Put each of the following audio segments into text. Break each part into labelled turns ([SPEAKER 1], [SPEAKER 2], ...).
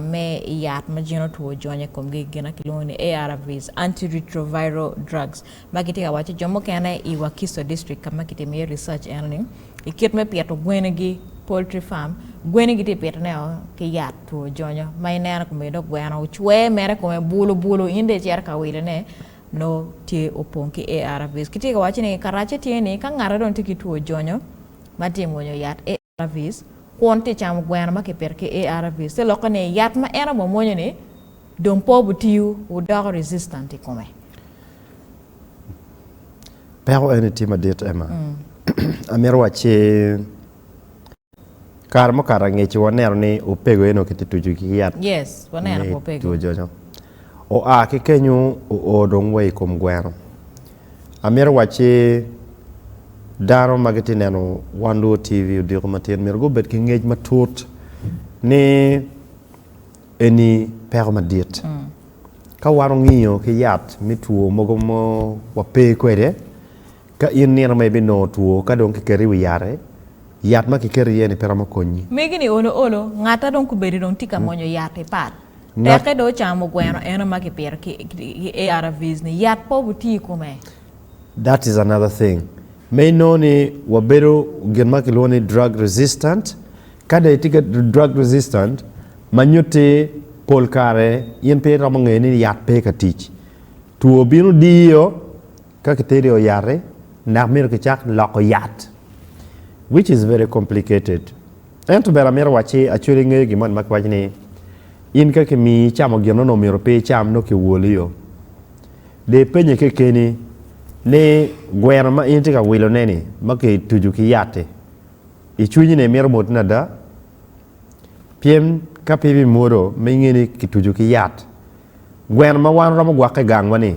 [SPEAKER 1] me i yat ma jin otwo ojony i komgi i gina kilwongo ni ARVs, antiretroviral drugs, ma gitye ka waco jo mukene i Wakiso District ka ma kitimo iye research enoni, i kit me pito gwenigi, poultry farm, gweni gitye ka pitonego ki yat two ojonyo ma ineno kome dong gweno ocwe mere kome bulu bulu in dong icito ka wilone nongo tye opong ki ARVs. Kitye ka waco ni karacce tye ni ka ngati dong tye ki two ojonyo ma tye ka mwonyo yat ARVs, kwon tye camo gweno ma kipito ki ARVs te lokke ni yat ma en omwomwonyo-ni dong pe obitiyo, wudoko resistant i kome.
[SPEAKER 2] Peko eni tye madit, Emma. Amito wacci, kare mukato angecci waneno ni opego aye nongo kitye tuco ki yat me
[SPEAKER 1] two jonyoo.
[SPEAKER 2] Oa ki kenyo oo dong wa i kom gweno. Amito wacci dano ma gitye neno Wan Luo TV odiko matin myero gubed ki ngec matut ni eni peko madit. Ka wan ongiyo ki yat me two mogo ma wape kwede, ka in nino ma ibinongo two ka dong kiketi i wi yat-ti, yat ma kiketi iye-ni pe romo konyi. Megi ni olo olo,
[SPEAKER 1] ngatta dong kubedi dong tye ka mwonyo yat i pal. Ngat. Tekke dong ocamo gweno eno ma kipito ki ARVs ni, yat pe obuti i kome. That is
[SPEAKER 2] another thing. Me inongo ni wabedo gin ma kilwongo ni drug resistant. Ka dong itye ki drug resistant, ma nyutti pol kare in pe iromo ngeyo ni yat pe ka tic. Two bino diyo ka kiteri o yati dok myero kicak loko yat which is very complicated. Ento bene amito wacci acwel ingeyo gin moni ma kiwaco ni, In ka kimiyi icamo gin onongo myero pe icam, nongo kiwolio. De ipenye kekeni ni, Gweno ma in itye ka wilone-ni ma kituco ki yat-ti, i cwinyi-ni imito mwotone ada? Pien ka pe ibimwodo ma inge ni kituco ki yat, gweno ma wan romo gwakke i gangwa-ni,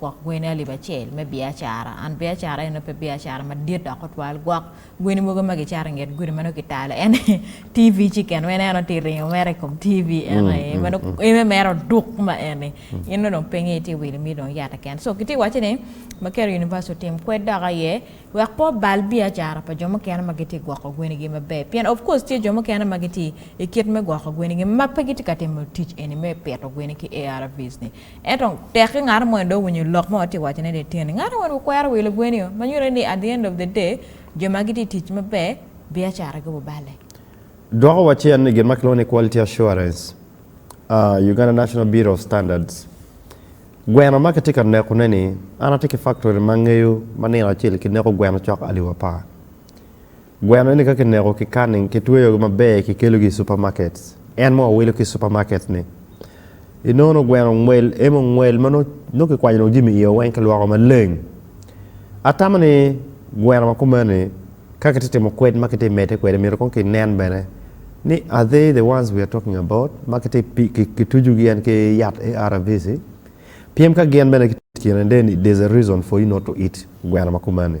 [SPEAKER 1] gwok gweni alip acel me biacara. And biacara eno pe biacara madit dok otwal gwok gweni mogo ma gicato i nget gudi ma nongo kitalo en aye TV chicken ma en aye nongo tye ka ringo mere i kom TV eno aye ma nongo en aye mere oduk ma eni in nongo dong piny aye itye wilo miti dong yat keken so kitye ka wacce ni Makerere University otim kwed dok aye wek pe obal biacara pa jo mukene ma gitye ka gwoko gwenigi maber pien of course tye jo mukene ma gitye i kit me gwoko gwenigi ma pe gitye ka timo tic eni me pito gweni ki ARVs-ni. Ento, tekki ngato moni dong owinyo lok ma watye ka wacone ni eteni. Ngato moni okwero wi lubweni-o, ma nyutte ni at the end of the day, jo ma gitye ka tic maber, biacara gibo balle. Dwoko wacen
[SPEAKER 2] ni gin ma kilwongo ni Quality Assurance, Uganda National Bureau of Standards, gweno ma kitye ka nekone-ni, an atye ki faktori ma angeyo ma nino acel kineko gweno cok alip apar. Gweno ni ka kineko ki canning, kitweyogi maber kikelogi i supermarkets. En mo owilo ki supermarkets ni, I nono gweno ngwel emo ngwel ma nongo kikwanyo dong jami iye weng kilwoko maleng. Atamo ni gweno ma kumeni ka kitye timo kwed ma kitye mede kwede myero kong kinen bene ni are they the ones we are talking about ma kitye kitucu gi en ki yat ARVs-i pien ka gin bene kitye kine then there's a reason for you not to eat gweno ma kumeni.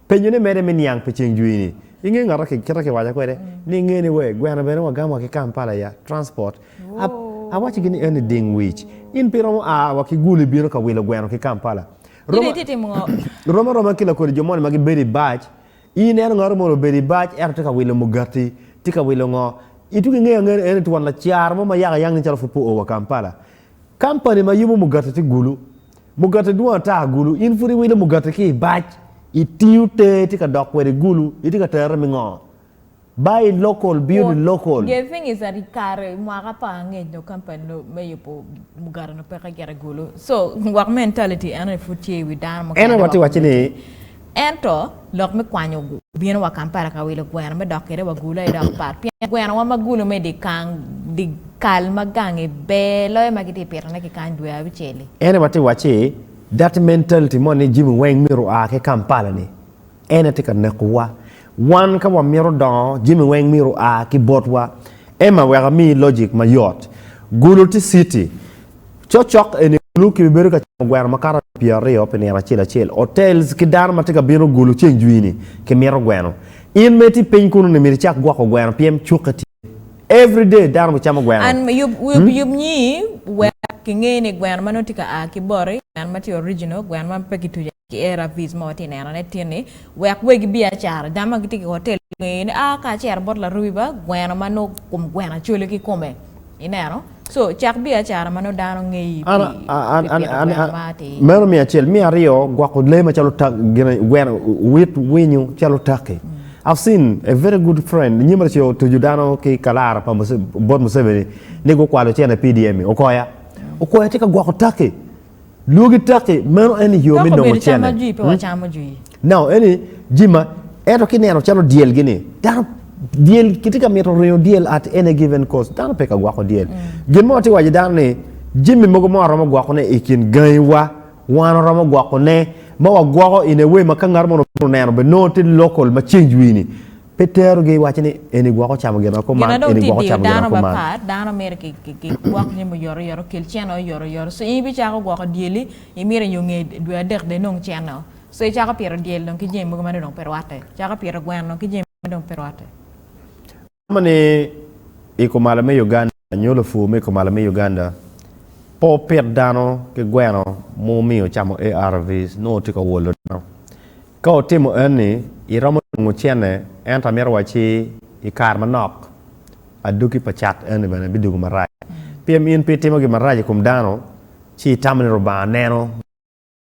[SPEAKER 2] Penyone mere me niang pi ceng jwini. Inge ngata ki kita kiwaca kwede ni inge ni wee gweno bene wa gam wa ki Kampala ya transport a awaci gi ni eni ding wic in pi romo a wa ki gulu ibino ka wilo gweno ki Kampala roma roma aroma ki lakodi jo moni ma gi bedo ibac in ineno ngato moni obedo ibac ento tye ka wilo mugati tye ka wilo ngo ituki inge ange ni eni twon lacara mo ma yaka yang nen calo pud pe oo wa Kampala Kampani ma yubu mugati ti gulu. Mugati dwong ata gulu. In pud iwilo mugati ki i bac, i tingu te ti ka dok kwede gulu, i ti ka tere mi ngo? Buy local, build local. Quote, Gething is at i
[SPEAKER 1] kare i mwaka pa angec nyo kampani no me yubu mugati no peke gire gulu. So, work mentality ene pud tye i wi dano mukene dok miti. Ene wa ti wacci ni
[SPEAKER 2] Ento
[SPEAKER 1] lok me kwanyo gu. Bino wa Kampala ka wilo gweno me dok kede wa gulo aye dok pat pien gweno wa ma gulo me di kang di kal ma gangi ber loyo ma giti pito ne ki kany dwe abicel-li. Ene wa ti wacci
[SPEAKER 2] that mentality mo ni jimi weng myero oa ki Kampala ni ene ti ka neko wa. Wan ka wa mito dongo jimi weng myero oa ki bot wa. Emma wek amiyi logic ma yot. Gulo ti city Cokcok eni Gulu kibibedo ka camo gweno makato alip pyeraryo pi nino acel acel. Hotels ki dano ma tye ka bino Gulu ceng jwini kimito gweno. In ma itye piny kunu ni myero icak gwoko gweno pien cukke tye. Every day dano bicamo gweno. An yub yub
[SPEAKER 1] nyi wek kinge ni gweno ma nongo tye ka a ki boti, gweno ma tye original, gweno ma pe kituco atika. ki er apic mo tye neno ne tin ni wek wegi biacara dano ma gitye ki hotel ngeye ni aa ka acero bot larubi ba gweno ma no kum gweno acole ki kome ineno so cak biacara ma no dano ngeyi an pi an pi an pito an gweno an ma ti
[SPEAKER 2] meno me acel me aryo gwoko lee macalo tak gine gweno wit winyo calo taki I've seen a very good friend nyim raco otuju dano ki kalara pa Muse- bot museveni ni gukwalo cene PDM okoya okoya tye ka gwoko taki Lwogi tekki, meno en ni yo me nongo cene. No, en ni jima, ento ki neno calo dyel gini, dano dyel kiti ka mito ringo dyel at any given cost, dano pe ka gwako dyel. Mm. Gin mo ti waje dano ni, jimi mogo mo aromo gwako ne i kin gangi wa, wan aromo gwako ne, ma wa gwako in ewe ma ka ngat mo nongo neno be nongo ti local ma change wini. Pe terogi, iwacci ni, Eni gwok ocamo gin ma kuman, Gin ma dong eni tye gwok diyo ocamo gin ma dano kuman. mapat, dano myero ki- ki-
[SPEAKER 1] kigwok jami oyotoyot, okel cene oyotoyot. So, in ibicako gwoko dyeli, imyero inyo nge dwe adek dong inong cene-o. So, icako pito dyel dong ki jami mogo ma dong pe rwatte. Icako pito gweno ki jami ma dong pe rwatte. Romo
[SPEAKER 2] ni i kumalo me Uganda. Nyo lopur me kumalo me Uganda pe opit dano ki gweno ma omiyo ocamo ARVs nongo tye ka wolo dano. Ka otimo enni, iromo nongo cene ento amito wacci i kare manok aduki pa cat enni bene bidwogo marac. Pien in pe itimo gin marac i kom dano ci itamo ni Lubanga neno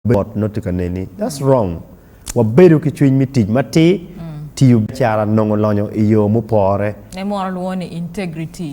[SPEAKER 2] bedo mot nongo tye ka neni. That's wrong. Wabedo ki cwiny me tic matir, tiyo
[SPEAKER 1] biacara,
[SPEAKER 2] nongo lonyo i
[SPEAKER 1] yo
[SPEAKER 2] mupore.
[SPEAKER 1] Ne
[SPEAKER 2] mono lwongo ni
[SPEAKER 1] integrity.